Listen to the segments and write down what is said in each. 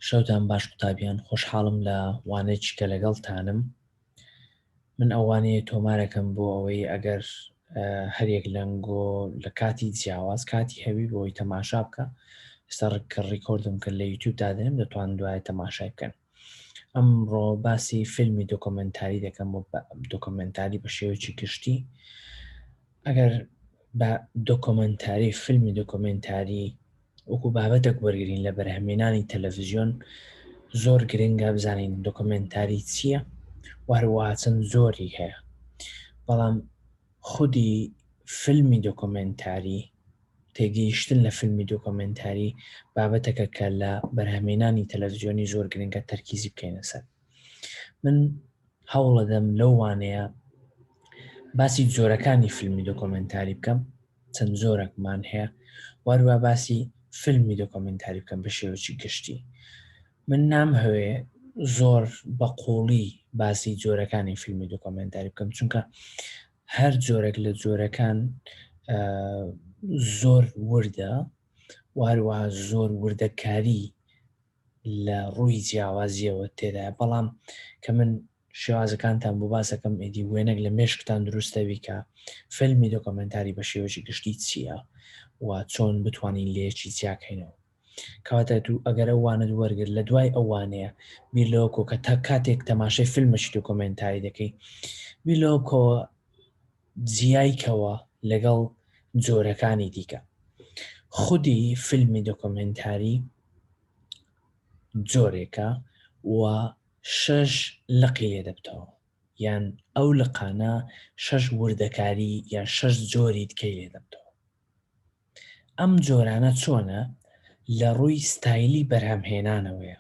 شەوتان باش قوتابیان خۆشحاڵم لە وانەیەکی کە لەگەڵتانم من ئەوانەیە تۆمارەکەم بۆ ئەوەی ئەگەر هەرێک لەنگۆ لە کاتی جیاواز کاتی هەوی بۆی تەماشا بکە ئێستا ڕکە ڕیکۆردم کە لە یوتوب دادێنم دەتوان دوایە تەماشای بکەن ئەمڕۆ باسی فیلمی دۆکۆمنتاری دەکەم و دۆکۆمنتاری بە شێوەیەکی گشتی ئەگەر بە دۆکۆمنتاری فیلمی دۆکۆمنتاری وەکو بابەتێک وەرگین لە بەرهەمێنانی تەلەڤزیۆن زۆر گرنگە بزانین دۆکۆمنتاری چییە وهروە چەند زۆری هەیە بەڵام خودی فیلمی دۆکۆمێنتاری، تێگەیشتن لە فیلمی دۆکۆمێنتاری بابەتەکە کە لە بەرهەمێنانی تەلەفزیۆنی زۆر گرنگە تەرکیزی بکەینە سەر من هەوڵەدەم لەو وانەیە باسی زۆرەکانی فیلمی دۆکۆمنتاری بکەم چەند زۆرەکمان هەیە واروا باسی فیلمی دۆکۆمنتاری بکەم بە شێوەی گشتی من نامهەوێ زۆر بە قوڵی باسی جۆرەکانی فیلمی دۆکۆمنتاری بکەم چونکە هەر جۆرەك لە جۆرەکان زۆر وردە واروا زۆر وردەکاری لە ڕووی جیاوازیەوە تێدا بەڵام کە من شێوازەکانتان بۆ باسەکەم ئیدی وێنەک لە مێشکتان دروستەوی کە فیلمی دۆکۆمنتاری بە شێوەژی گشتی چییە و چۆن بتوانین لێکی چیاکەینەوە کەواتە تو ئەگەر ئەو وانەت وەرگرت لە دوای ئەو وانەیە بیر لەوە بکەوە کە تا کاتێک تەماشای فیلمەکی دۆکۆمێنتاری دەکەی بیر لەوە بکەوە جیای کەوە لەگەڵ جۆرەکانی دیکە خودی فیلمی دۆکۆمێنتاری جۆرێکە و شەش لقی لێ دەبتەوە یان ئەو لقانە شەش وردەکاری یان شەش جۆری دکەی لێ دەبتەوە ئەم جۆرانە چۆنە لە ڕووی ستایلی بەرهەمهێنانەوەیە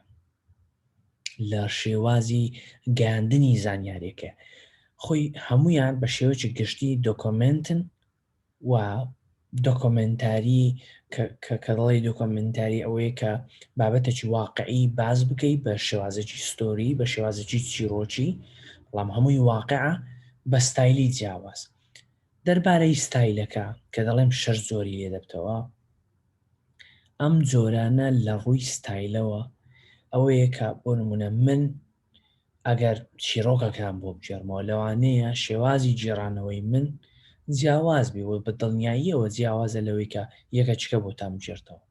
لە شێوازی گەاندنی زانیارێکە خۆی هەمویان بە شێوەی گشتی دۆکۆمنتن و دۆکۆمنتاری کە دەڵی دۆکۆمنتاری ئەوەیە کە بابەتێکی واقعی باز بکەی بە شێوازێکی ستۆری بە شێوازێکی چیرۆکی بەڵام هەمووی واقع بە ستایلی جیاواز دەربارەی ستایلەکە کە دەڵێم شەش جۆری لێ دەبتەوە ئەم جۆرانە لە ڕووی ستایلەوە ئەوەیە کە بۆ نمونە من ئەگەر چیرۆکەکان بۆ بگێڕمەوە لەوانەیە شێوازی گێڕانەوەی من جیاواز بێ و بە دڵنیاییەوە جیاوازە لەوەی کە یەکەچکە بۆتان بگێڕتەوە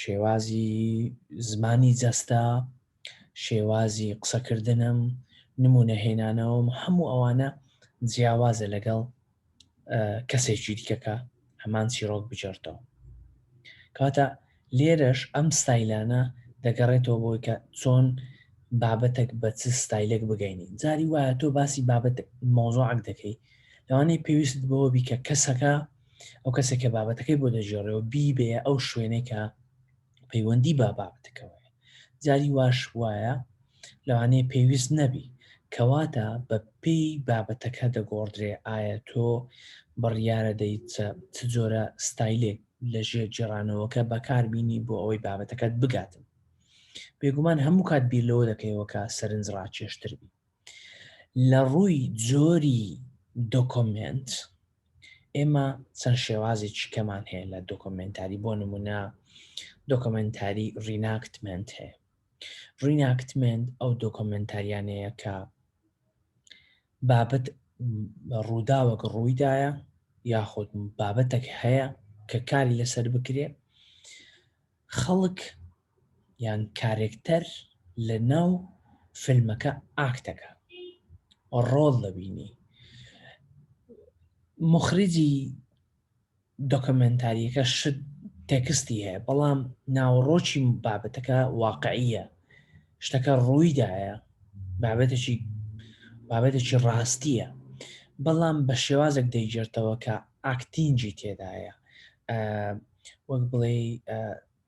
شێوازی زمانی جەستە شێوازی قسەکردنم نمونە هێنانەوەم هەموو ئەوانە جیاوازە لەگەڵ کەسێکی دیکەکە هەمان چیرۆک بجێرتەوە کاتە لێرەش ئەم ستایلانە دەگەڕێتەوە بۆی کە چۆن بابەتێک بە چ ستایلێک بگەینی جاری وایە تۆ باسی بابەت مۆزۆعک دەکەی لەوانەیە پێویست بەوە بی کە کەسەکە ئەو کەسێکە بابەتەکەی بۆ دەژێڕێەوە بیبێ ئەو شوێنێکە پەیوەندی بە بابەتەکەوە هەیە جاری واش وایە لەوانەیە پێویست نەبی کەواتە بە پێی بابەتەکە دەگۆڕدرێ ئایا تۆ بڕیارە دەیت چ جۆرە ستایلێک لە ژێر جێڕانەوەکە بەکاربیینی بۆ ئەوەی بابەتەکەت بگاتن بێگومان هەموو کات بیر لەوە دەکەیەوە کە سەرنج ڕاکێشتر بی لە ڕووی جۆری دۆکۆمێنت ئێمە چەند شێوازێکی کەمان هەیە لە دۆکۆمێنتاری بۆ نمونە دۆکۆمێنتاری ڕیناکتمنت هەیە ڕیناکتمنت ئەو دۆکۆمێنتاریانەیە کە بابەت ڕووداوەک ڕوویدایە یاخود بابەتەک هەیە کە کاری لەسەر بکرێ خەڵک یان کارێکتەر لەناو فیلمەکە ئاکت دەکا ڕۆڵ دەبینی مخرجی دۆکمنتاریەکە شت تێکستی هەیە بەڵام ناوەڕۆکی بابەتەکە واقعیە شتەکە ڕوویدایە بابەتێکی بابەتێکی ڕاستیە بەڵام بە شێوازێک دەیگرتەوە کە ئاکتینجی تێدایە وەک بڵێ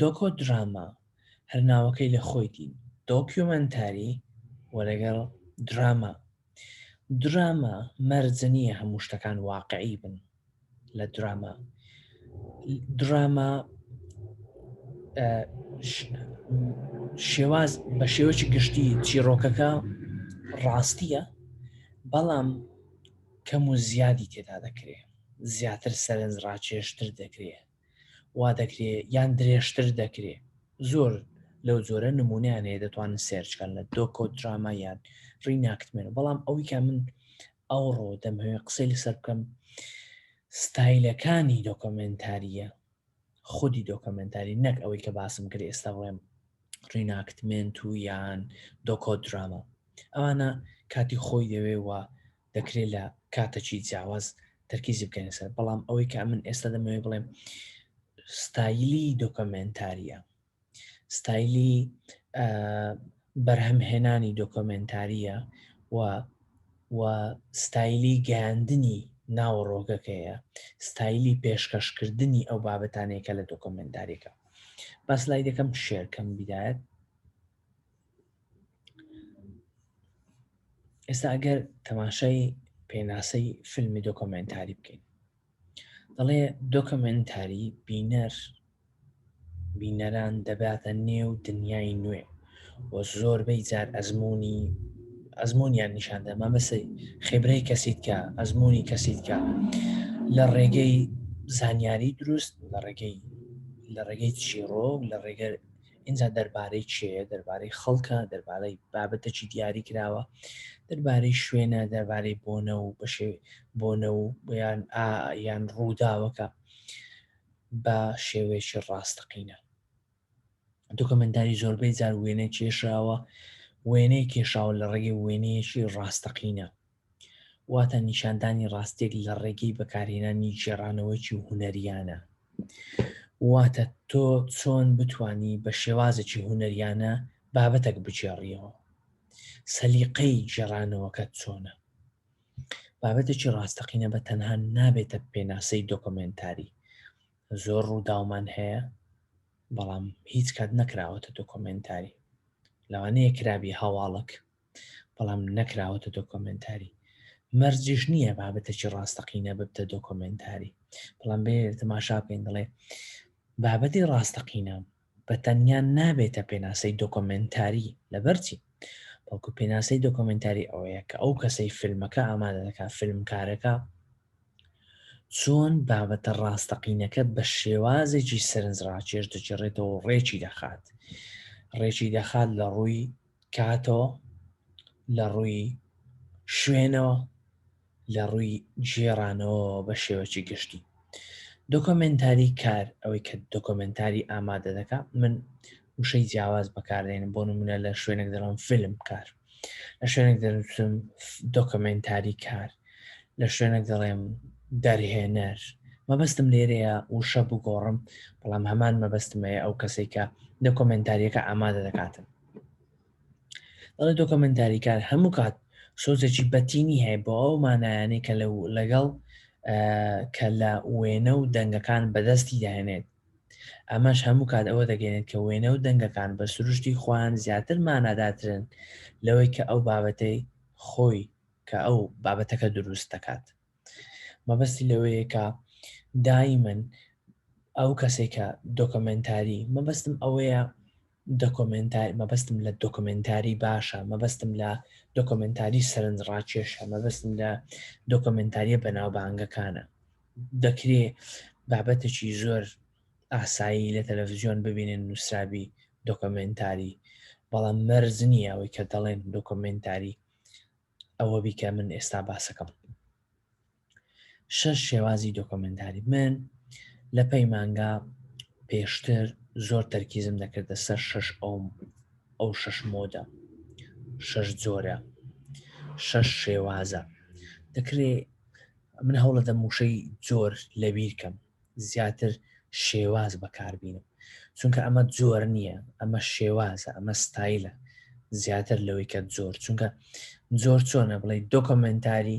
دۆکۆ دراما، هەر ناوەکەی لە خۆیتی، دۆکیومەنتاری و لەگەڵ دراما. دراما مەرج نییە هەموو شتەکان واقعی بن لە دراما. دراما شێواز بە شێوەی گشتی چیرۆکەکە ڕاستیە بەڵام کەم و زیادی تێدا دەکرێت زیاتر سەرنج ڕاکێشتر دەکرێت وا دەکرێ یان درێژتر دەکرێ زۆر لەو جۆرە نمونیان هەیە دەتوانن سێرچکەن لە دۆکۆ دراما یان ڕیناکتمێن بەڵام ئەویکە من ئەوڕۆ دەمهوێ قسەی لەسەر بکەم ستایلەکانی دۆکۆمنتاریە خودی دۆکۆمنتاری نەک ئەوەی کە باسم کرد ئێستا بڵێم ڕیناکتمنت و یان دۆکۆ دراما ئەوانە کاتی خۆی دەوێ و دەکرێت لە کاتەکی جیاواز تەرکیزی بکەنە سەر بەڵام ئەوەی کە من ئێستا دەمەوێ بڵێم ستایلی دۆکۆمنتاریە ستایلی بەرهەمهێنانی دۆکۆمنتاریە و و ستایلی گەاندنی ناوەڕۆگەکەیە ستایلی پێشکەشکردنی ئەو بابەتانێکە لە دۆکۆمنتاریەکە بەس لای دەکەم شێرکەم بیدایەت ئێستا ئەگەر تەماشای پێناسەی فیلمی دۆکۆمنتاری بکەین دەڵێ دۆکۆمنتاری بینەر بینەران دەباتە نێو دنیای نوێ و زۆربەی جار ئەزمموی ئەزممویان نیشان دەما بەسی خێبرەی کەسیت کە ئەزمموی کەسیت کە لە ڕێگەی زانیاری دروست لە ڕێگەی لە ڕێگەی چیڕۆک لە ڕێگە ئینجا دەربارەی کێیە دەربارەی خەڵکە دەربارەی بابەتەکی دیاری کراوە دەربارەی شوێنە دەربارەی بۆنە و بەشێ بۆنە و یان یان ڕووداوەکە بە شێوەیەکی ڕاستەقینە دۆکمنتاری زۆربەی جار وێنە کێشراوە وێنەی کێشاوە لە ڕێگەی وێنەیەکی ڕاستەقینە واتە نیشاندانی ڕاستیەک لە ڕێگەی بەکارهێنانی گێڕانەوەیەکی هونەریانە. واتە تۆ چۆن بتانی بە شێوازێکی هونەریانە بابەتەک بگێڕیەوە. سەلیقەی گێڕانەوەکەت چۆنە. بابەتێکی ڕاستەقینە بە تەنها نابێتە پێناسەی دۆکۆمنتاری. زۆر ڕووداومان هەیە بەڵام هیچ کات نەکراوەتە دۆکۆمنتاری. لەوانەیە کرابی هەواڵک بەڵام نەکراوەتە دۆکۆمنتاری مەرجیش نییە بابەتێکی ڕاستەقینە ببتە دۆکۆمنتاری بەڵام بێ تەماشا بکەین دەڵێ بابەتی ڕاستەقینە بە تەنیا نابێتە پێناسەی دۆکۆمنتاری لەبەرچی بەڵکو پێناسەی دۆکۆمنتاری ئەوەیە کە ئەو کەسەی فیلمەکە ئامادە دەکات فیلمکارەکە چۆن بابەتە ڕاستەقینەکە بە شێوازێکی سەرنجڕاکێش دەگەڕێتەوە ڕێکی دەخات ڕێکی دەخات لە ڕووی کاتەوە، لە ڕووی شوێنەوە، لە ڕووی گێڕانەوەوە بە شێوەکی گشتی. دۆکۆمێنتاری کار، ئەوەی کە دۆکۆمێنتاری ئامادە دەکا، من وشەی جیاواز بەکاردێنم، بۆ نموونە لە شوێنێک دەڵێم فیلم کار، لە شوێنێک دەنووسم دۆکۆمێنتاری کار، لە شوێنێک دەڵێم دەرهێنەر. مەبەستم لێرەیە وشە بگۆڕم، بەڵام هەمان مەبەستم هەیە ئەو کەسەی کە دۆکۆمێنتارییەکە ئامادە دەکاتن. ئەڵێ دۆکۆمنتاریکار هەموو کات سۆزێکی بەتینی هەیە بۆ ئەو مانایانەی کە لە لەگەڵ کە لە وێنە و دەنگەکان بەدەستی داێنێت ئەمەش هەموو کات ئەوە دەگەێنێت کە وێنە و دەنگەکان بە سروشتی خۆیان زیاتر ماناداترن لەوەی کە ئەو بابەتەی خۆی کە ئەو بابەتەکە دروست دەکات مەبەستی لەوەیە کە دایمن ئەو کەسێکە دۆکمنتاری مەبەستم ئەوەیە دۆکۆمێنتاری مەبەستم لە دۆکۆمێنتاری باشە، مەبەستم لە دۆکۆمێنتاری سەرنجڕاکێشە، مەبەستم لە دۆکۆمێنتارییە بەناوبانگەکانە. دەکرێ بابەتێکی زۆر ئاسایی لە تەلەڤزیۆن ببینن نووسرابی دۆکۆمێنتاری، بەڵام مەرج نییە ئەوەی کە دەڵێن دۆکۆمێنتاری ئەوە بی کە من ئێستا باسەکەم. شەش شێوازی دۆکۆمێنتاری من لە پەیمانگا پێشتر زۆر تەرکیزم دەکردە سەر شەش ئەوم ئەو شەش مۆدە شەش جۆرە شەش شێوازە دەکرێ من هەوڵە دەم وشەی جۆر لە بیرکەم زیاتر شێواز بەکاربیینم چونکە ئەمە جۆر نییە ئەمە شێوازە ئەمە ستایلە زیاتر لەوەی کە زۆر چونکە زۆر چۆنە بڵێ دۆکۆمنتاری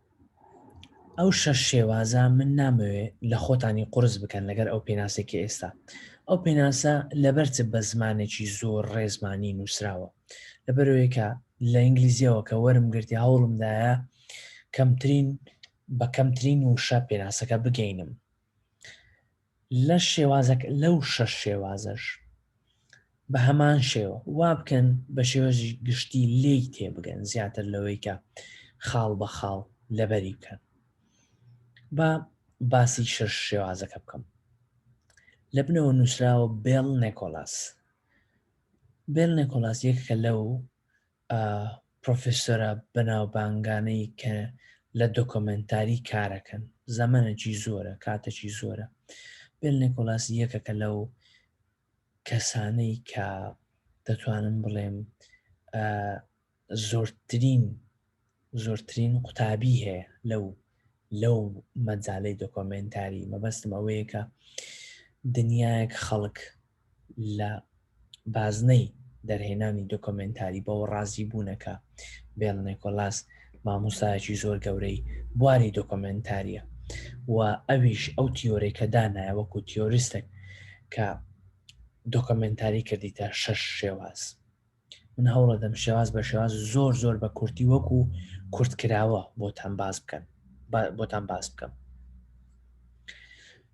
ئەو شەش شێوازە من نامەوێ لە خۆتانی قورس بکەن لەگەر ئەو پێناسەی کە ئێستا ئەو پێناسە لەبەر چ بە زمانێکی زۆر ڕێزمانی نووسراوە لەبەرەوەی کە لە ئینگلیزیەوە کە وەرم گرتی هەوڵمدایە کەمترین بە کەمترین وشە پێناسەکە بگەینم لەش شێوازەک لەو شەش شێوازەش بە هەمان شێوە وا بکەن بە شێوەژی گشتی لێی تێبگەن زیاتر لەوەی کە خاڵ بە خاڵ لەبەری بکەن با باسی شەش شێوازەکە بکەم لە بنەوە نووسراوە بێڵ نێکۆلاس بێل نێکۆلاس یەکە لەو ئە پرۆفیسۆرە بەناوبانگانەی کە لە دۆکۆمێنتاری کارەکەن زەمەنەکی زۆرە کاتەکی زۆرە بێل نێکۆلاس یەکەکە لەو کەسانەی کە دەتوانم بڵێم زۆرترین زۆرترین قوتابی هەیە لەو لەو مەجالەی دۆکۆمێنتاری مەبەستم ئەوەیە کە دنیایەک خەڵک لە بازنەی دەرهێنانی دۆکۆمێنتاری بەوە ڕازی بوونەکە بێڵ نێکۆلاس مامۆستایەکی زۆر گەورەی بواری دۆکۆمێنتاریە و ئەویش ئەو تیۆرەی کە دانایە وەکو تیۆریستێک کە دۆکۆمێنتاری کردیتە شەش شێواز من هەوڵەدەم شێواز بە شێواز زۆر زۆر بە کورتی وەکو کورتکراوە بۆتان باز بکەن بۆتان باز بکەم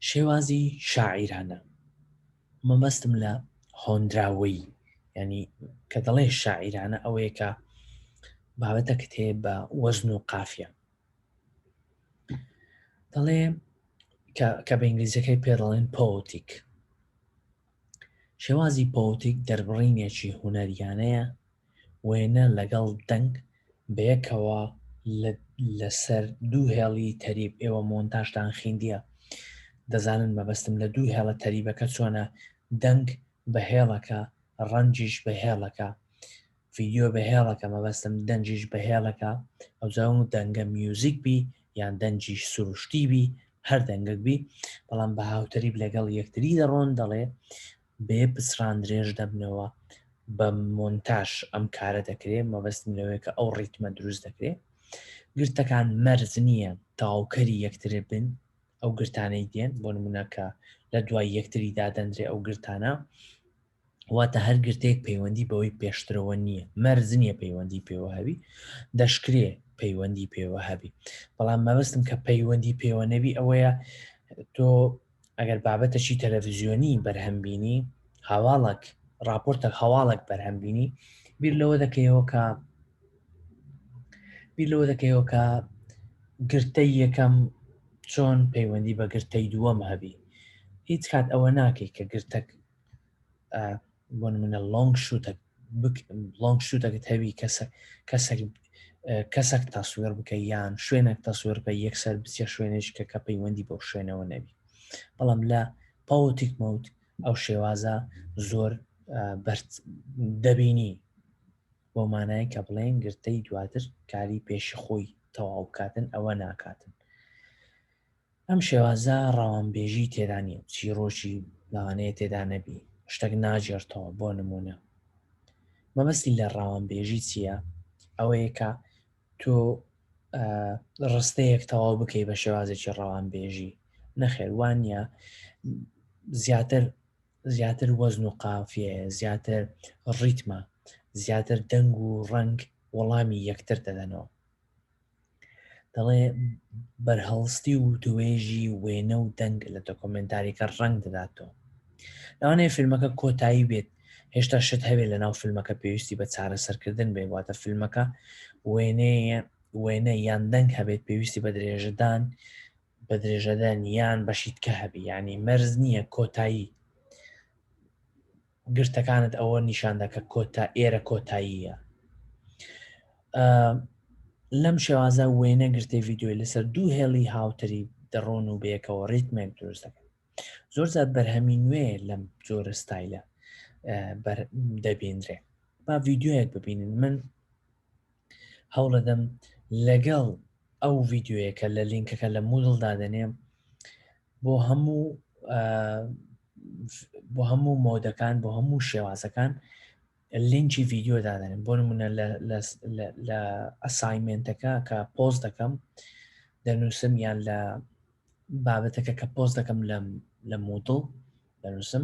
شێوازی شاعیرانە مەبەستم لە هۆندراوەی ینی کە دەڵێ شاعیرانە ئەوەیە کە بابەتە کتێ بە وەزن و قافە دەڵێ کە بە ئینگلیزیەکەی پێ دەڵێن پۆتیک شێوازی پۆوتیک دەربڕینێکی هونەریانەیە، وێنە لەگەڵ دەنگ بەیەکەوە لەسەر دوو هێڵی تەریب، ئێوە مۆنتاژتان خیندیە دەزانن مەبەستم لە دوو هێڵە تەریبەکە چۆنە، دەنگ بە هێڵەکە، ڕەنجیش بە هێڵەکە، ڤیدیۆ بە هێڵەکە مەبەستم دەنگیش بە هێڵەکە ئەوجا و دەنگە میوزیک بی یان دەنگیش سروشتی بی هەر دەنگەک بی بەڵام بە هاوتەریب لەگەڵ یەکتری دەڕۆن دەڵێ بێ پچڕان درێژ دەبنەوە بە مۆنتاش ئەم کارە دەکرێ مەبەستم لەوەیە کە ئەو ڕیتمە دروست دەکرێت گرتەکان مەرز نییە تاوکەری یەکتر بن ئەو گرتانەی دێن بۆ نمونەکە لە دوای یەکتری دادەندرێ ئەو گرتانە واتە هەر گرتەیەک پەیوەندی بەوەی پێشترەوە نییە، مەرج نییە پەیوەندی پێوە هەبی، دەشکرێ پەیوەندی پێوە هەبی، بەڵام مەبەستم کە پەیوەندی پێوە نەبی ئەوەیە تۆ ئەگەر بابەتەکی تەلەڤزیۆنی بەرهەم بینی هەواڵک راپۆرتە هەواڵک بەرهەم بینی بیر لەوە دەکەیەوە کە بیر لەوە دەکەیەوە کە گرتەی یەکەم چۆن پەیوەندی بە گرتەی دووەم هەبی هیچ کات ئەوە ناکەی کە گرتەک بۆ منە لۆنگ شوتە لۆنگ شوتەکە تەوی کەسە کەسەک کەسەک تاسوێر بکە یان شوێنێک تاسوێر بکە یەکسەر بچە شوێنێش کە کە پەیوەندی بۆ شوێنەوە نەبی بەڵام لە پاوتیک مەوت ئەو شێوازە زۆر بەرد دەبینی بۆ مانای کە بڵێن گرتەی دواتر کاری پێشی خۆی تەواو بکاتن ئەوە ناکاتن ئەم شێوازە ڕەوانبێژی تێدا نیە و چیڕۆکی لەوانەیە تێدا نەبی شتەک ناگێڕتەوە بۆ نمونە مەبەستی لە ڕەوانبێژی چییە ئەوەیە کە تۆ ڕستەیەک تەواو بکەی بە شێوازێکی ڕەوانبێژی نەخێر وانە زیاتر زیاتر وەزن و قافێ زیاتر ڕیتمە زیاتر دەنگ و ڕنگ وەڵامی یەکتر دەدەنەوە دەڵێ بەرهەڵستی و توێژی وێنە و دەنگ لە دۆکۆمێنتاریکە ڕەنگ دەداتەوە لەوانەیە فیلمەکە کۆتایی بێت هێشتا شت هەوێ لە ناو فیلمەکە پێویستی بە چارەسەرکردن بێ واتە فیلمەکە وێنەیە وێنە یان دەنگ هەبێت پێویستی بە درێژەدان بە درێژەدان یان بەشیتکە هەبی ینی مەرز نییە کۆتایی گرتەکانت ئەوە نیشاندا کە کۆتا ئێرە کۆتاییە لەم شێوازە وێنە گرتەی ڤیددیوی لەسەر دوو هێڵی هاوتری دەڕۆن و بەیەکەوە ڕیتمێک دروست دەکەن زۆر زیاد بەرهەمی نوێ لەم جۆرە ستایلە دەبیندرێ با ڤیددیوەک ببینن من هەوڵەدەم لەگەڵ ئەو ڤیددیوەیەکە لە لینکەکە لە مودڵ دادەنێم بۆ هەموو بۆ هەموو مۆدەکان بۆ هەموو شێوازەکان لینکی ڤیددیو دادەنێم بۆ نمونە لە ئەسایمنتەکە کە پۆز دەکەم دەنووسم یان لە بابەتەکە کە پۆز دەکەم لە مودڵ دەنووسم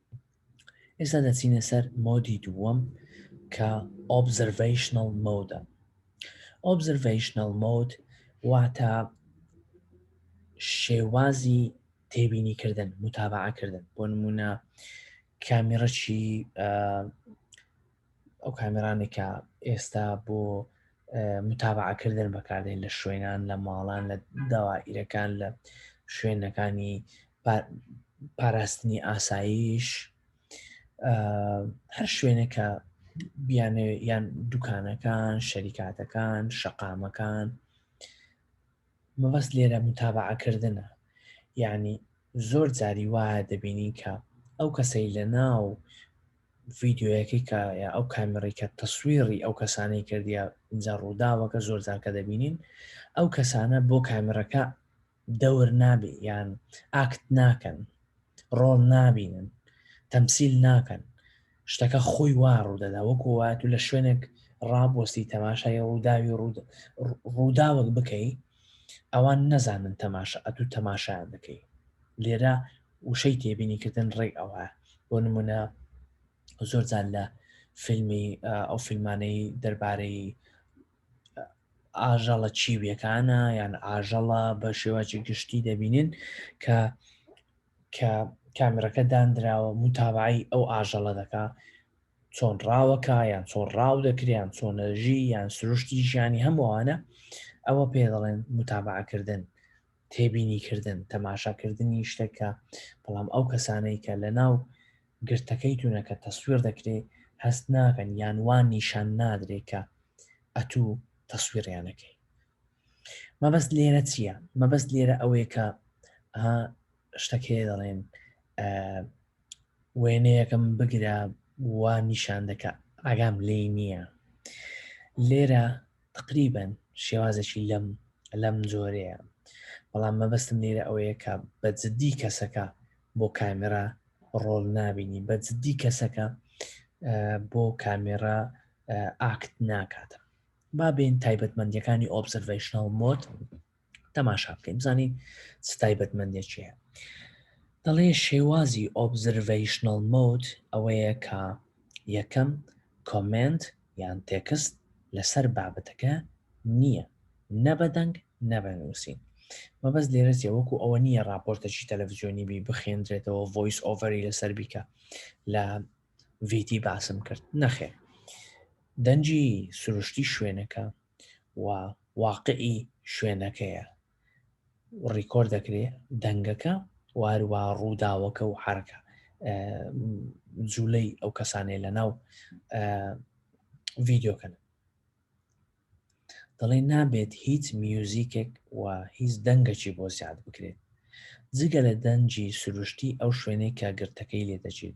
ئێستا دەچینە سەر مۆدی دووەم کە ئۆبزرڤیشنەڵ مۆدە ئۆبزرڤیشنەڵ مۆد واتە شێوازی تێبینی کردن متابعکردن بۆ نمونە کامیڕەکی ئەو کامێرانێک کە ئێستا بۆ متابعکردن بەکاردێن لە شوێنان لە ماڵان لە داوائیرەکان لە شوێنەکانی پاراستنی ئاساییش هەر شوێنەکە بیانێ یان دوکانەکان شەریکاتەکان شەقامەکان مەبەست لێرە موتابەعە کردنە یانی زۆر جاری وایە دەبینین کە ئەو کەسەی لە ناو ڤیدیۆیەکەی کە یا ئەو کامێڕی کە تەسویڕی ئەو کەسانەی کردیا اینجا ڕووداوەکە زۆر جار کە دەبینین ئەو کەسانە بۆ کامێڕەکە دەور نابێ یان ئاکت ناکەن ڕۆڵ نابینن تەمسیل ناکەن شتەکە خۆی وا ڕوودەدا وەکو وایە و لە شوێنێک ڕابوەستی تەماشای ڕووداوی ڕووداوەک بکەی ئەوان نەزانن تەماشا ئەتو تەماشایان دەکەی لێرە وشەی تێبینیکردن ڕێک ئەوە بۆ نمونە زۆر جار لە فیلمی ئەو فیلمانەی دەربارەی ئاژەڵە چیویەکانە یان ئاژەڵە بە شێواجی گشتی دەبینین کە کە کامرەکە دانراوە متابعی ئەو ئاژەڵە دەکا چۆن ڕاوەکە یان چۆن ڕاو دەکریان چۆنەژی یان سروشتی ژیانی هەمووانە ئەوە پێ دەڵێن متابعکردن تێبینی کردن تەماشاکردنی شتەکە بەڵام ئەو کەسانەی کە لە ناو گرتەکەی تونە کە تەسویر دەکرێ هەست ناکەن یان وا نیشان نادرێ کە ئەتو تەسویریان دەکەی مەبەست لێرە چییە مەبەست لێرە ئەوەیە کە شتەکەی دەڵێن وێنەیەکەم بگرە وا نیشان دەکە ئاگام لێی نییە لێرە تقریبن شێوازێکی لەم لەم جۆرەیە بەڵام مەبەستم لێرە ئەوەیە کە بە جددی کەسەکە بۆ کامێرا ڕۆڵ نابینی بە جددی کەسەکە بۆ کامێرا ئاکت ناکات با بین تایبەتمەندیەکانی ئۆبزرڤشنل مۆت تەماشا بکەین بزانین چ تایبەتمەندێک چیە دەڵێ شێوازی ئۆبزرڤشنل مۆت ئەوەیە کە یەکەم کۆمنت یان تێکست لەسەر بابەتەکە نییە نە بە دەنگ نە بە نووسین مەبەست لێرە چیە وەکو ئەوە نییە ڕاپۆرتەکی تەلەڤزیۆنی بی بخێندرێتەوە ڤۆیس ئۆڤەری لەسەر بیکە لە ڤیتی باسم کرد نەخێر دەنجی سروشتی شوێنەکە و واقعی شوێنەکەیە ڕیکۆرد دەکرێ دەنگەکە واروا ڕووداوەکە و حرکە جوولەی ئەو کەسانێ لە ناو ڤیددیوکەن دەڵێ نابێت هیچ میوزیکێک و هیچ دەنگەکی بۆ زیاد بکرێت جگە لە دەنجی سروشتی ئەو شوێنێک کە گرتەکەی لێ دەچێت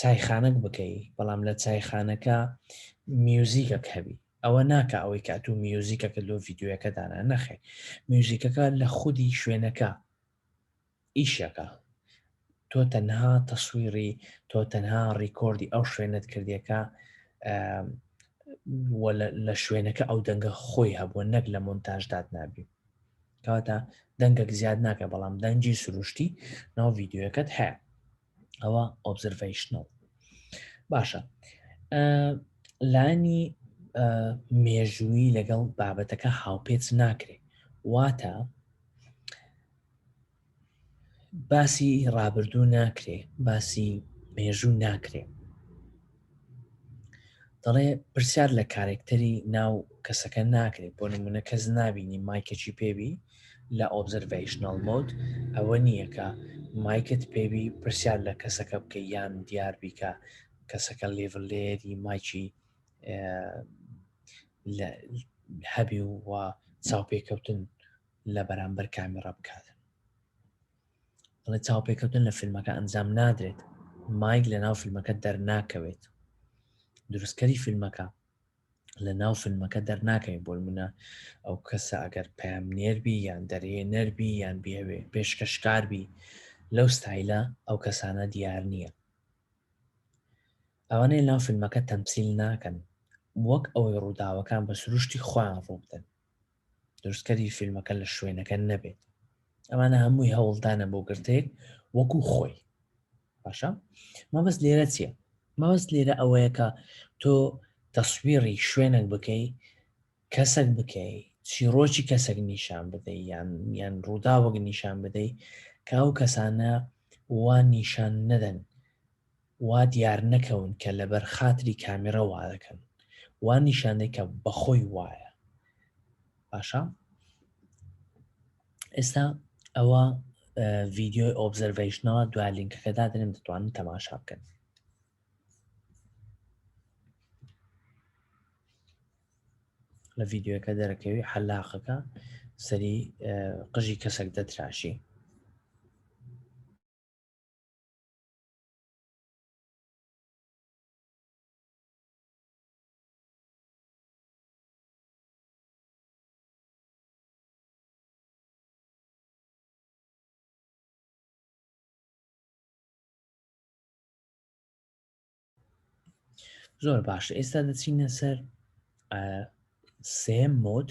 چایخانەک بکەی بەڵام لە چایخانەکە میوزیکەک هەبی ئەوە ناکە ئەوەی کە ئەتوو میوزیکەکە لۆ ڤیددیوەکە دانا نەخێ میوزیکەکە لە خودی شوێنەکە ئیشەکە تۆ تەنها تەسویری تۆ تەنها ڕیکۆردی ئەو شوێنت کردیەکە لە شوێنەکە ئەو دەنگە خۆی هەبووە نەک لە مۆنتاژداد نابی کەواتە دەنگەک زیاد ناکە بەڵام دەنجی سروشتی ناو ڤیددیوەکەت هەیە ئەوە ئۆبزرڤیشنەوە باشە لانی مێژووی لەگەڵ بابەتەکە هاوپێچ ناکرێت واتە باسی ڕابردوو ناکرێ باسی مێژوو ناکرێ دەڵێ پرسیار لە کارێکتەری ناو کەسەکە ناکرێت بۆ نمونە کەس نابینی مایکەچی پێبی لە ئۆبزرڤشنال مۆد ئەوە نییە کە مایکت پێبی پرسیار لە کەسەکە بکە یان دیار بیکە کەسەکە لێڤلێری مایکی هەبی و چاوپێکەوتن لە بەرامبەر کامی ڕەبکات ئەڵێ چاوپێکەوتن لە فیلمەکە ئەنجام نادرێت مایک لە ناو فیلمەکە دەرناکەوێت دروستکەری فیلمەکە لە ناو فیلمەکە دەرناکەین بۆ منە ئەو کەسە ئەگەر پام نێربی یان دەرێ نەربی یان بێوێ پێشکەشکاربی لەو ستایلە ئەو کەسانە دیار نییە ئەوانەیە ناو فیلمەکە تەمسیل ناکەن وەک ئەوەی ڕووداوەکان بە سروشتی خۆیان ڕووبدەن دروستکەری فیلمەکە لە شوێنەکە نەبێت ئەمانە هەمووی هەوڵدانە بۆ گرتێک وەکو خۆی باشە مەبەست لێرە چیە مەبەست لێرە ئەوەیە کە تۆ تەسویڕی شوێنێک بکەی کەسەک بکەی چیرۆکی کەسەک نیشان بدەی یان یان ڕووداوەک نیشان بدەی کە ئەو کەسانە وا نیشان نەدەن وا دیار نەکەون کە لەبەر خاتری کامیڕە وا دەکەن وا نیشان دەی کە بەخۆی وایە باشە ئێستا ئەوە ڤیدیۆی ئۆبزەرڤەیشنەوە دوا لینکەکە دادنێم دەتوانن تەماشا بکەن لە ڤیددیوەکە دەرەکەوی حەلاقەکە سەری قژی کەسێک دەتراشی زۆر باش ئێستا دەچینە سەر سێم مۆت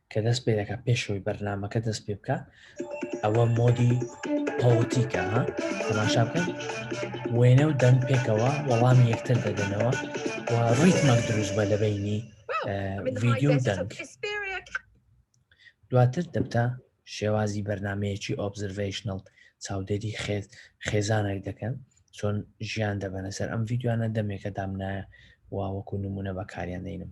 کە دەست پێ دەکە پێشەوەی بەرنمەکە دەست پێ بکە ئەوە مۆدی پۆتیکە ها تەماشا بکەن وێنە و دەنگ پێکەوە وەڵام یەکتر دەدەنەوە و ڕیتمەک دروست بە لە بینی ڤیددیو دەنگ دواتر دەبتە شێوازی بەرنمەیەکی ئۆبزرڤشنل چاودێری خێز خێزانێک دەکەن چۆن ژیان دەبەنە سەر ئەم ڤیددیوانە دەمێکە دامنایە واوەکو نمونە بەکاریان دەینم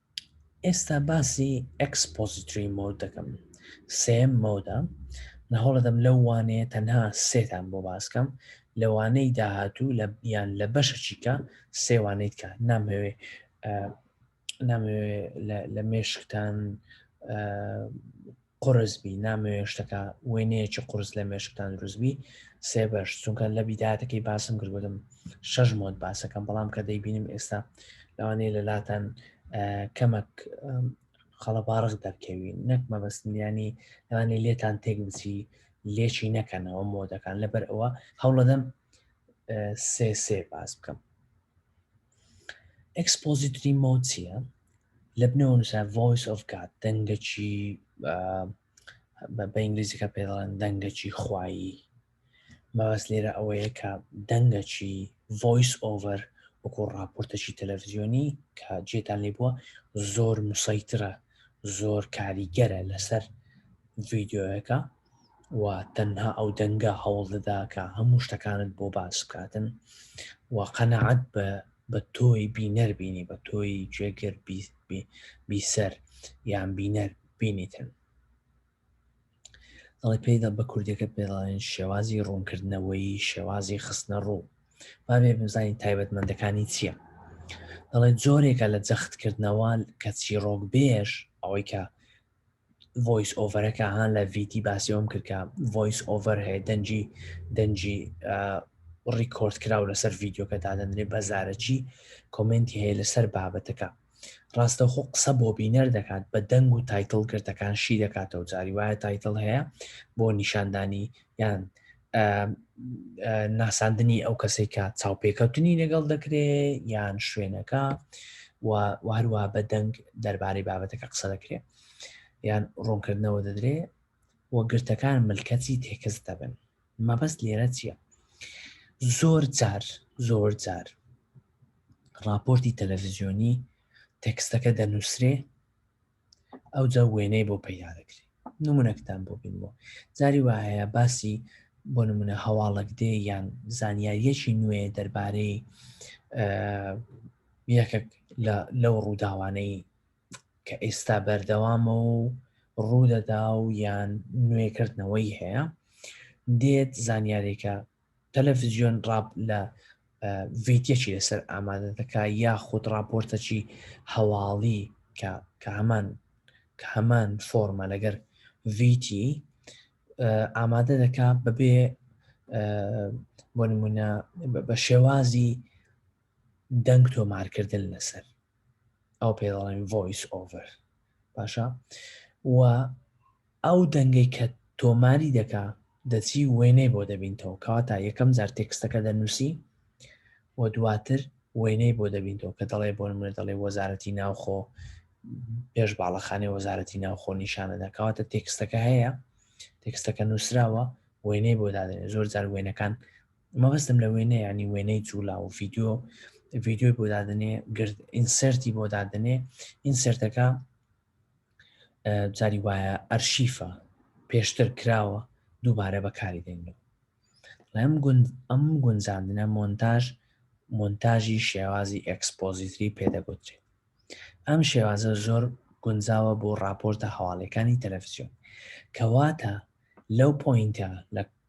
ئێستا باسی ئەکسپۆزیتری مۆد دەکەم سێم مۆدە لە هەوڵەدەم لەو وانەیە تەنها سێتان بۆ باسکەم لەوانەی داهاتوو لە بیان لە بەشەچیکە سێوانەیت کە نامەوێ نامەوێ لە مێشکتان قورس بی نامەوێ شتەکە وێنەیەکی قورس لە مێشکتان دروست بی سێ بەش چونکە لە بیداتەکەی باسم کردگوتم شەش مۆت باسەکەم بەڵام کە دەیبینم ئێستا لەوانەیە لە لاتان کەمەک خەڵەباڕغ دەرکەوین نەک مەبەستنیانی لەوانێ لێتان تێک بچی لێچی نەکەنەوە مۆدەکان لەبەر ئەوە هەوڵەدەم سێ سێ باس بکەم ئەکسپۆزیتری مۆچیە لە بنەوە نووسرا Voice of God دەنگەکی بە ئینگلیزیەکە پێ دەڵێن دەنگەکی خوایی مەبەس لێرە ئەوەیە کە دەنگەکی ڤۆیس ئۆڤەر وەکو ڕاپۆرتەکی تەلەڤزیۆنی کە جێتان لێ بووە زۆر مسەیترە زۆر کاریگەرە لەسەر ڤیددیوەکە و تەنها ئەو دەنگە هەوڵ دەدا کە هەموو شتەکانت بۆ باس بکاتن و قەنەعەت بە بە تۆی بینەر بینی بە تۆی جێگر بیسەر یان بینەر بینیتن دەڵی پێدا بە کوردەکە پێڵێن شێوازی ڕوونکردنەوەی شێوازی خستنە ڕوو بابێ بزانین تایبەتمەندەکانی چییە دەڵێ جۆرێکە لە جەختکردنەوە کە چیڕۆک بێژ ئەوەی کە ڤۆیس ئۆڤەرەکە ها لە ڤیتی باسیەوەم کرد کە ڤۆیس ئۆڤەر هەیە دەنجی دەنجی ڕیکۆرد کراو لەسەر ڤیددیوکە دادەنرێ بەزارەچی کۆمنتی هەیە لەسەر بابەتەکە ڕاستەخۆ قسە بۆ بینەر دەکات بە دەنگ و تایتل گرتەکان شی دەکاتەوە جاری وایە تایتل هەیە بۆ نیشاندانی یان ناساندنی ئەو کەسێک کە چاوپێکەوتنی لەگەڵ دەکرێ یان شوێنەکە و هەروە بە دەنگ دەربارەی بابەتەکە قسە دەکرێ یان ڕوونکردنەوە دەدرێ و گرتەکان ملکەتی تێکەس دەبن مەبەست لێرە چییە زۆر جار زۆر جار راپۆرتی تەلەڤزیۆنی تەکستەکە دەنووسرێ ئەوجا وێنەی بۆ پەیدا دەکرێ نمونەکتان بۆ بینمەوە جاری وایە باسی بۆ نمونە هەواڵک دێ یان زانیاریەکی نوێ دەربارەی یەکێک لەو ڕووداوانەی کە ئێستا بەردەوامە و ڕوودەدا و یان نوێکردنەوەی هەیە دێت زانیارێکە تەلەفزیۆن ڕاپ لە ڤیتەکی لەسەر ئامادە دەکا یا خود ڕاپۆرتەکی هەواڵی کە کە هەمان کە هەمان فۆرمە لەگەر ڤیتی ئامادە دەکا بەبێ بۆ نمونە بە شێوازی دەنگ تۆمارکردن لەسەر ئەو پێ دەڵێن ڤۆیس ئۆڤەر باشە و ئەو دەنگەی کە تۆماری دەکا دەچی وێنەی بۆ دەبینتەوە کەواتە یەکەم جار تێکستەکە دەنووسی و دواتر وێنەی بۆ دەبینەوە کە دەڵێ بۆ نمونە دەڵێ وەزارەتی ناوخۆ پێش باڵەخانەی وەزارەتی ناوخۆ نیشانە دەکەواتە تێکستەکە هەیە تێکستەکە نووسراوە وێنەی بۆ دادێنێ زۆر جار وێنەکان مەبەستم لە وێنە یعنی وێنەی جوولا و ڤیددیو ڤیددیوی بۆ دادنێ گرد ئینسەرتی بۆ دادنێ ئینسەرتەکە جاری وایە ئەرشیفە پێشتر کراوە دووبارە بەکاری دێنەوە لەم گوند ئەم گونجاندنە مۆنتاژ مۆنتاژی شێوازی ئەکسپۆزیتری پێدەگوترێت ئەم شێوازە زۆر گونجاوە بۆ راپۆرتە هەواڵەکانی تەلەفزیۆن کەواتە لەو پۆینتە لە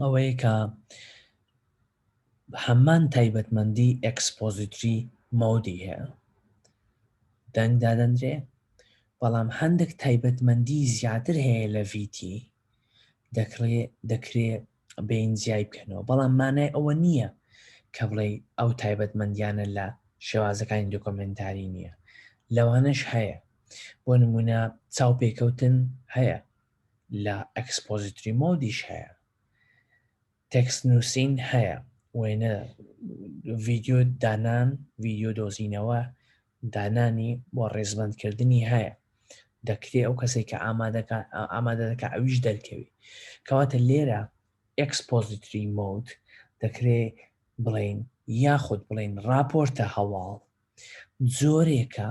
ئەوەیە کە هەمان تایبەتمەندی ئەکسپۆزیتری مۆدی هەیە دەنگ دادەندرێ بەڵام هەندێک تایبەتمەندی زیاتر هەیە لە VT دەکڕێ دەکرێ بین زیای بکەنەوە بەڵام مانای ئەوە نییە کە بڵێ ئەو تایبەتمەندیانە لە شێوازەکانی دۆکۆمنتاری نییە لەوانش هەیە بۆ نمونە چاو پێکەوتن هەیە لە ئەکسپۆزیتری مۆدیش هەیە تێکست نووسین هەیە وێنە ڤیددیو دانان ڤیددیو دۆزینەوە دانانی بۆ ڕێزبندکردنی هەیە دەکرێ ئەو کەسێک کە ئامادەکە ئامادەکە ئەویش دەرکەوی کەواتە لێرە ئەکسپۆزیتری مۆد دەکرێ بڵین یاخود بڵین راپۆرتە هەواڵ زۆرێکە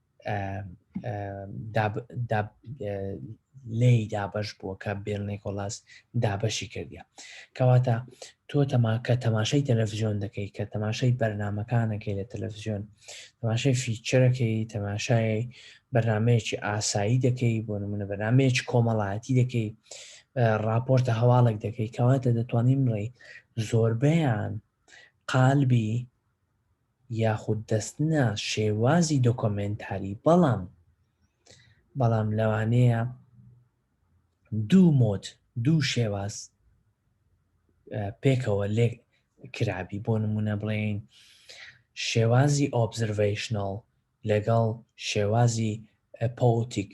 لێی دابش بووە کە بێل نیکۆلاس دابەشی کردە کەواتە تۆ تەما کە تەماشای تەلەڤزیۆن دەکەی کە تەماشای بەرنمەکانەکەی لە تەلەڤزیۆن تەماشای فیچەرەکەی تەماشای بەرنمەیەکی ئاسایی دەکەی بۆ نمونە بەرنمەیەک کۆمەڵایەتی دەکەی راپۆرتە هەواڵێک دەکەی کەواتە دەتوانین ڕێی زۆربیان قالبی یاخود دەست نا شێوازی دۆکۆمێنتاری بەڵام بەڵام لەوانەیە دوو مۆد دوو شێواز پێکەوە لێک کرابی بۆ نمونە بڵێین شێوازی ئۆبزرڤیشنال لەگەڵ شێوازی پۆتیک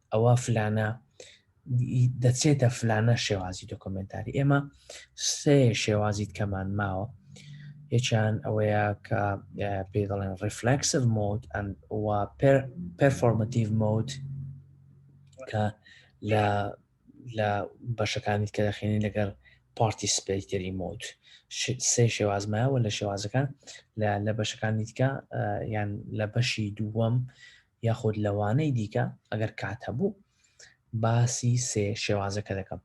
ئەوە فلانە دەچێتە فلانە شێوازی دۆکۆمنتاری ئێمە سێ شێوازی کەمان ماوە یەکیان ئەوەیە کە پێ دەڵێن ڕفلکسف مۆد پرفۆرمەتیڤ مۆد کە لە لە بەشەکانی کە دەخێنین لەگەر پارتی سپیتری مۆد سێ شێوازمایەوە لە شێوازەکان لە بەشەکانی دیکە یان لە بەشی دووەم یاخود لەوانەی دیکە ئەگەر کات هەبوو باسی سێ شێوازەکە دەکەم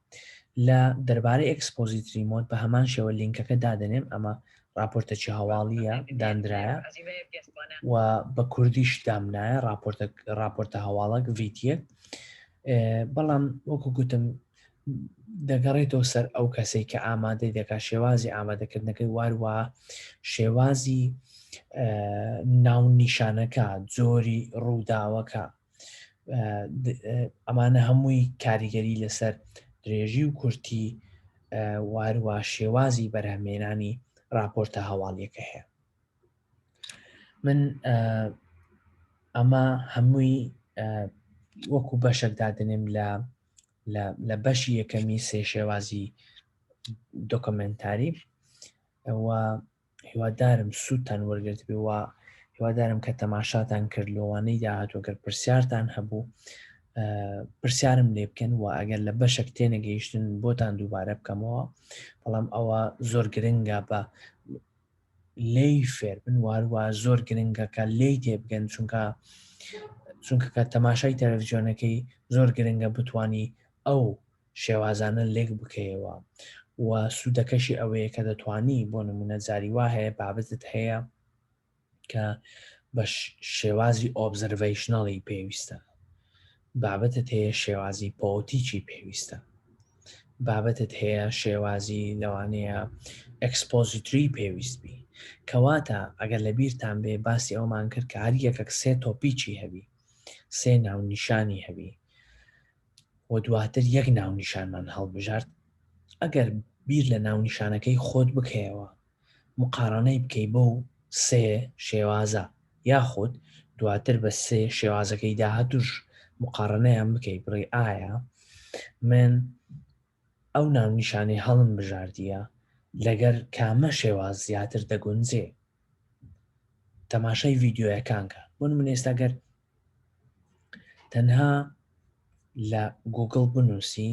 لە دەربارەی ئەکسپۆزیت ریمۆت بە هەمان شێوە لینکەکە دادەنێم ئەمە راپۆرتەکی هەواڵیە دانرایە و بە کوردیش دامنایە راپۆرتە راپۆرتە هەواڵک ڤیتە بەڵام وەکو گوتم دەگەڕێتەوە سەر ئەو کەسەی کە ئامادەی دەکات شێوازی ئامادەکردنەکەی واروا شێوازی ناو نیشانەکە جۆری ڕووداوەکە ئەمانە هەمووی کاریگەری لەسەر درێژی و کورتی واروا شێوازی بەرهەمێنانی راپۆرتە هەواڵیەکە هەیە من ئەمە هەمووی وەکو بەشەکدادنێم لە لە بەشی یەکەمی سێ شێوازی دۆکمنتاری ئەوە هیوادارم سووتان وەرگرت بێ و هیوادارم کە تەماشاتان کرد لەوانەی داهاتوەگەر پرسیارتان هەبوو پرسیارم لێ بکەن و ئەگەر لە بەشێک تێنەگەیشتن بۆتان دووبارە بکەمەوە بەڵام ئەوە زۆر گرنگە بە لێی فێربن واروە زۆر گرنگە کە لێی تێبگەن چونکە چونکە کە تەماشای تەلەڤزیۆنەکەی زۆر گرنگە بتانی ئەو شێوازانە لێک بکەیەوە و سوودەکەشی ئەوەیە کە دەتانی بۆ نمونە زاری وا هەیە بابەتت هەیە کە بە شێوازی ئۆبزەرڤیشنەڵی پێویستە بابەتت هەیە شێوازی پۆتیکی پێویستە بابەتت هەیە شێوازی لەوانەیە ئەکسپۆزیتری پێویست بی کەواتە ئەگەر لە بیرتان بێ باسی ئەومان کرد کە هەر یەکەک سێ تۆپیکی هەبی سێ ناونیشانی هەبی و دواتر یەک ناونیشانمان هەڵبژارد ئەگەر بیر لە ناونیشانەکەی خۆت بکەیەوە مقاڕەنەی بکەی بەو سێ شێوازە یاخود دواتر بە سێ شێوازەکەی داهاتووش مقاڕەنەیان بکەی بڵێی ئایا من ئەو ناونیشانەی هەڵم بژاردیە لەگەر کامە شێواز زیاتر دەگونجێ تەماشای ڤیددیوەکان کە بۆ من ئێستا گەر تەنها لە گوگل بنووسی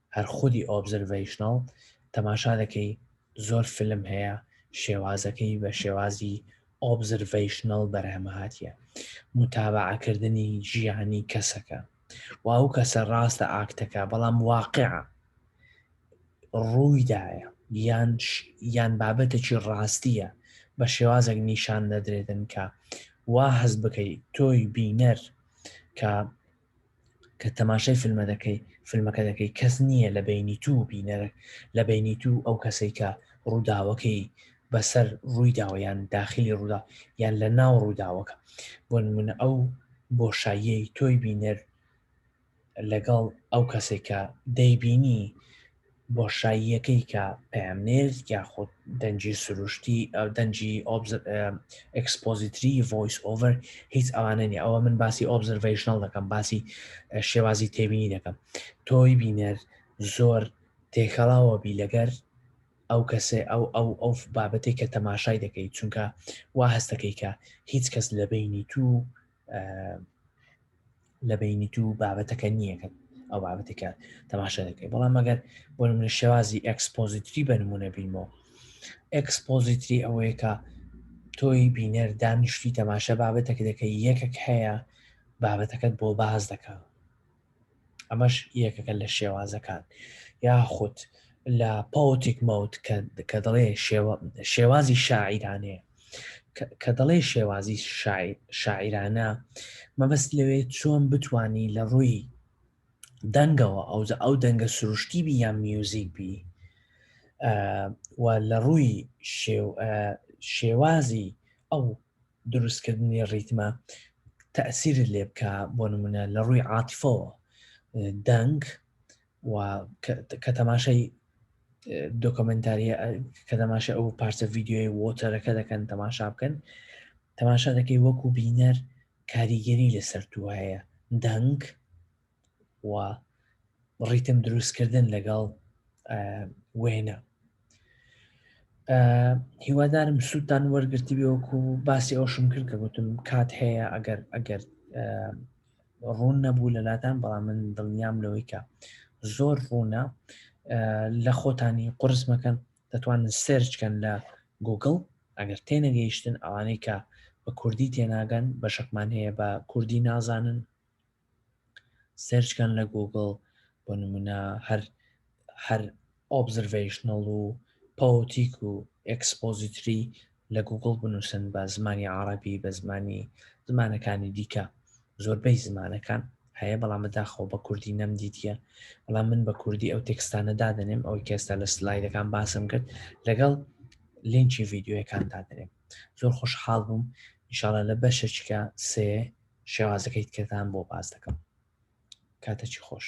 هەر خودی ئۆبزەرڤەیشناڵ تەماشا دەکەی زۆر فلم هەیە شێوازەکەی بە شێوازی ئۆبزرڤیشنەڵ بەرهەمەهاتە متابعکردنی ژیانی کەسەکە و ئەو کەسە ڕاستە ئاکتەکە بەڵام واقع ڕوویدایە یان یان بابەتێکی ڕاستیە بە شێوازێک نیشان نەدرێتن کە وا هەز بکەیت تۆی بینەر کە کە تەماشای فیلمە دەکەی فیلمەکە دەکەی کەس نییە لە بینی تو بینەرە لە بینی تو ئەو کەسەی کە ڕووداوەکەی بەسەر ڕوویداوە یان داخلی ڕوودا یان لە ناو ڕووداوەکە بۆ نمونە ئەو بۆشاییەی تۆی بینەر لەگەڵ ئەو کەسێکە دەیبینی بۆشاییەکەی کە پەیامنێر یاخود دەنگی سروشتی ئەو دەنگی ئەکسپۆزیتری ڤۆیس ئۆڤەر هیچ ئەوانە نیە ئەوە من باسی ئۆبزرڤشنل دەکەم باسی شێوازی تێبینی دەکەم تۆی بینەر زۆر تێکەڵاوە بی لەگەر ئەو کەسێ ئەو ئەو ئەو بابەتێک کە تەماشای دەکەیت چونکە وا هەستەکەی کە هیچ کەس لە بینی تو لە بینی تو بابەتەکە نییە کە ئەو بابەتێکە تەماشا دەکەی بەڵام مەگەر بۆ من شێوازی ئەکسپۆزیتری بە نمونە بینمەوە ئەکسپۆزیتری ئەوەیەکە تۆی بینەر دانیشتی تەماشا بابەتەکە دەکەی یەکەک هەیە بابەتەکەت بۆ باز دەکە ئەمەش یەکەکە لە شێوازەکان یاخود لە پۆتیک مەوت کە دەڵێ شێوازی شاعیرانەیە کە دەڵێ شێوازی شاعیرانە مەبەست لەوێ چۆن بتانی لە ڕووی دەنگەوە ئەوجا ئەو دەنگە سروشتی بی یان میوزیک بی و لە ڕووی شێوازی ئەو دروستکردنی ڕیتمە تەسیرت لێ بکە بۆ نمونە لە ڕووی عاتیفەوە دەنگ کە تەماشای دۆکۆمنتاری کە تەماشا ئەو پارچە ڤیددیوی وۆتەرەکە دەکەن تەماشا بکەن تەماشا دەکەی وەکو بینەر کاریگەری لەسەر تو هەیە دەنگ و ڕیتم دروستکردن لەگەڵ وێنە هیوادارم سووتان وەرگرتی بێوەکو باسی ئەوشم کرد کە گوتم کات هەیە ئەگەر ئەگەر ڕوون نەبوو لەلاتان بەڵام من دڵنیام لەوەی کە زۆر ڕوونە لە خۆتانی قرس مەکەن دەتوانن سرچکەن لە گوگل ئەگەر تێنەگەیشتن ئەوانەی کە بە کوردی تێناگەن بە شەکمان هەیە بە کوردی نازانن سێرچکەن لە گوگڵ بۆ نمونە هەر هەر ئۆبزرڤشنڵ و پەوتیک و ئەکسپۆزیتری لە گوگڵ بنووسن بە زمانی عربی بە زمانی زمانەکانی دیکە زۆربەی زمانەکان هەیە بەڵام بەداخەوە بە کوردی نەم دیتە بەڵام من بە کوردی ئەو تێکستانە دادنێم ئەو کێستا لە سلایدەکان باسم کرد لەگەڵ لینکی ڤیددیوەکان دادنێم زۆر خۆشحاڵ بووم انشاءڵە لە بەشەچکە سێ شێوازەکەی تکەتان بۆ باس دەکەم کاتەکی خۆش